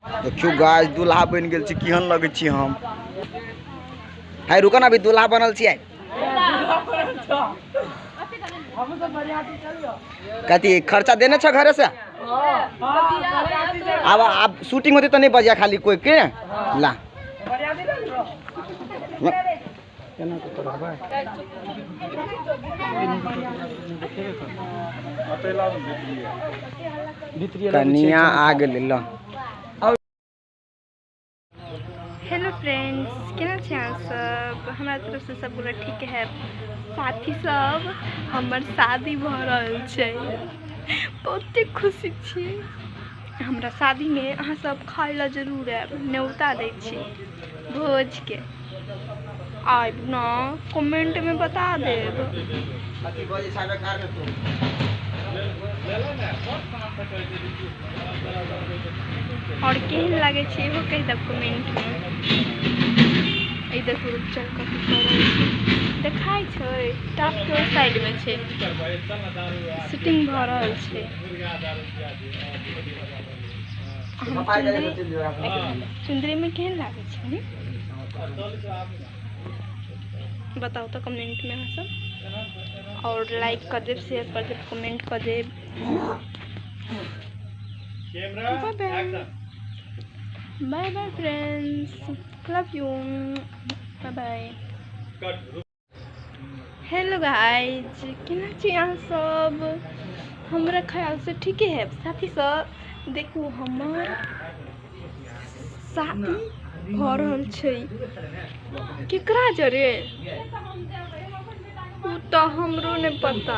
देखियो गाय दूल्हा बन गेल छी केहन लगै छी हम है रुको ना अभी दूल्हा बनल छी आइ कथी खर्चा देने छ घरे से अब अब शूटिंग होते तो नहीं बजा खाली कोई के ला केना कऽ तोरा भाय भितरिये लग कनिया आ गेलै लऽ हेलो फ्रेंड्स केना छी अहाँ सब हमरा तरफ से सब गोरा ठीक है साथी सब हमर शादी भऽ रहल छै बहुते खुशी छी हमरा शादीमे अहाँसभ खाइ लए जरूर आयब न्योता दै छी भोजके आयब ने कमेंटमे बता देब आओर केहन लागै छै इहो कहि देब कमेंटमे एहि देखू रुपचन कथी करै छै देखाइ छै टापके ओहि साइडमे छै शूटिंग भऽ रहल छै चुंदरीमे केहन लागै छै ने बताउ तऽ कमेंटमे अहाँसभ आओर लाइक कऽ देब शेयर कऽ देब कमेंट कऽ देब bye bye friends love you bye bye hello guys केना छी अहाँ सब हमरा ख्याल से ठीके है साथी सब देखू हमर शादी भऽ रहल छै केकरा जरे ओ तऽ हमरो नहि पता